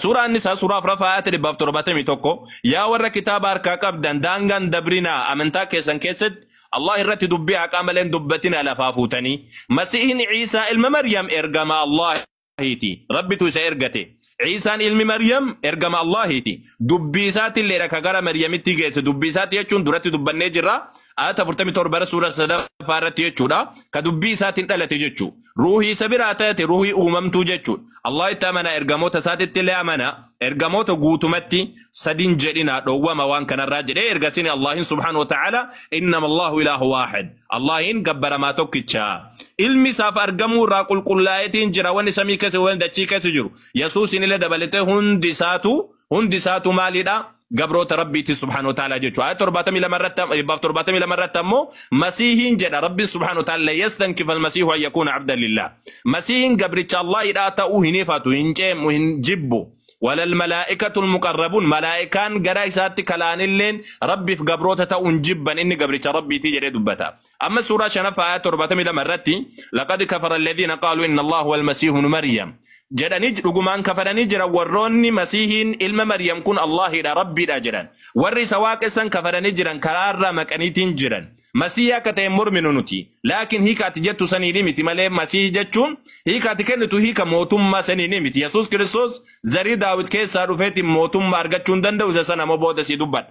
Suuraa Annisaa suuraa afraffaa ayata dhibbaaf torbaatamii tokko yaa warra kitaaba harkaa qabdan daangaan dabrinaa amantaa keessan keessatti Allah irratti dubbii haqaa malee hin dubbatinaa lafaa fuutanii Masiihin Ciisaa ilma Maryam ergama Allahiiti Rabbitu isa ergate Ciisaan ilmi Maryam ergama Allahiiti dubbii isaatiilleedha ka gara Maryamitti geesse dubbii isaati jechuun duratti dubbannee jirra ayata 47 irra suuraa sadaffaa irratti jechuudha ka dubbii isaatiin dhalate jechuu Ruuhii isa biraa taate ruuhii uumamtuu jechuudha. Allah itti amana ergamoota isaatitti illee amana. Ergamoota guutumatti sadin jedhina dhoowwama waan kanarraa jedhee ergasini Allahin subhaanahu wa ta'ala innama Allahu ilaahu waahid. Allahin gabbaramaa tokkicha. Ilmi isaaf argamuu irraa qulqullaa'eetiin jira wanni samii keessa wanni dachii keessa jiru. Yesuusin illee dabalatee hundi isaatu Hundi isaatu maalidha? Gabroota Rabbiiti subhaanahu wa ta'ala jechuudha. Ayat 72 irratti am- dhibbaaf 72 irratti ammoo Masiihiin jedha Rabbiin subhaanahu wa ta'ala yastankifal masiihu an yakuuna abdan lillah. Masiihiin gabricha Allaahidhaa ta'uu hin ifatu, hin ceemu, hin jibbu. Walal malaa'ikatul muqarrabuun malaa'ikaan gara isaatti kalaanilleen Rabbiif gabroota ta'uu hin jibban inni gabricha Rabbiiti jedhee dubbata. Amma suuraa shanaffaa ayaa torbaatamii lama irratti laqad kafara alladhiina qaaluu inna Allah wal masiihu ibnu Maryam jedhanii dhugumaan kafaranii jiran warroonni masiihiin ilma Maryam kun Allaahidha rabbiidha jedhan warri isa waaqessan kafaranii jiran karaa irraa maqaniitiin jiran masiihii akka ta'e morminu nuti laakiin hiika ati jettu saniidhi miti malee masiihii jechuun hiika ati kennitu hiika mootummaa saniidhi miti Yesuus Kiristoos zarii daawit keessaa dhufeetiin mootummaa argachuu hin danda'u isa sana moo booda sii dubbadha.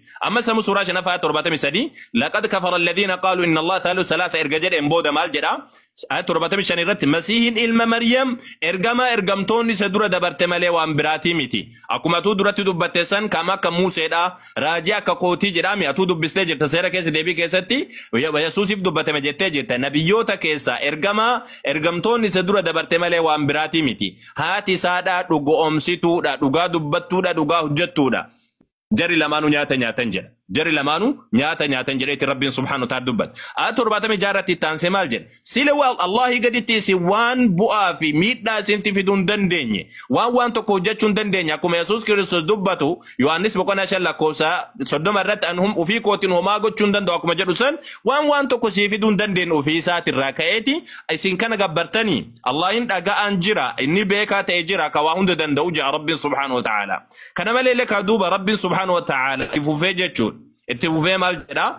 Ammas samu suuraa shanaffaa torbaatamii sadii laqad kafara alladhiina qaalu inna Allah thaalu salaasa erga jedheen booda maal jedha ayat torbaatamii shan irratti masiihin ilma Maryam ergamaa ergamtoonni isa dura dabarte malee waan biraatii miti akkuma atuu duratti dubbatte san kam akka Muuseedha raajii akka kootii jedhaami atuu dubbistee jirta seera keessa deebii keessatti Yesuusiif dubbatame jettee jirta nabiyyoota keessaa ergamaa ergamtoonni isa dura dabarte malee waan biraatii miti haati isaadha dhugoomsituudha dhugaa dubbattuudha dhugaa hojjettuudha. Jari lamaanu nyaata nyaatan jedha. Jari lamaanu nyaata nyaatan jedheeti Rabbiin subhaanahu ta'ala dubbate. Aa torbaatamii jaarratti itti aansee maal jedhe? Sila waa Allaahii gaditti isin waan bu'aa fi miidhaa isinti fiduu hin dandeenye. Waan waan tokko hojjechuu hin dandeenye. Akkuma Yesuus Kiristoos dubbatu Yohaannis boqonnaa shan lakkoofsa soddoma irratti an hum- ofii kootiin homaa gochuu hin danda'u akkuma jedhu san waan waan tokko sii fiduu hin dandeenye ofii isaatirraa ka'eeti isin kana gabbartanii Allaahiin dhaga'aan jira inni beekaa ta'e jira ka waa hunda danda'u jira Rabbiin subhaanahu wa ta'ala. Kana malee illee kaa duuba Rabbiin subhaanahu wa ta'aala itti fufee jechuun itti fufee maal jedhaa?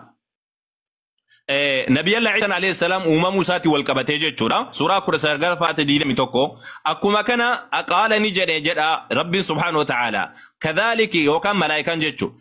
Eh, Nabi Allah Isa alayhi salam uumamuu isaati wal qabatee jechuudha. Suuraa 19 faate 21. Akkuma kana qaala ni jedhe jedha Rabbiin subhaanahu wa ta'aala. Kadhaaliki yookaan malaayikaan jechuudha.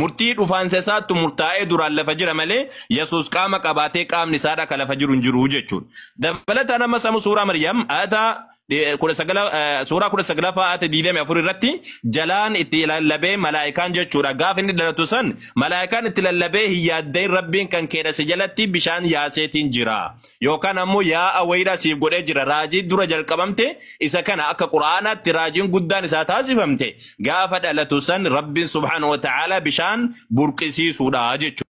Murtii dhufaansa isaattu murtaa'ee duraan lafa jira malee Yesuus qaama qabaatee qaamni isaadha ka lafa jiru hin jiru jechuudha. Dabalataan amma samu suuraa Maryam ayata eh, kudha sagala- eh, suuraa kudha saglaffaa ayata digdamii afur irratti jalaan itti lallabee malaayikaan jechuudha. Gaafa inni dhalatu san malaayikaan itti lallabee hin yaaddayin rabbiin kan keedha si jalatti bishaan yaaseetiin jira. yookaan ammoo yaa'a wayiidhaa siif godhee jira raajii dura jalqabamte isa kana akka qura'aanaatti raajiin guddaan isaa taasifamte gaafa dhalatu san rabbiin subhaanahu wa ta'aalaa bishaan burqisiisuudha jechuudha.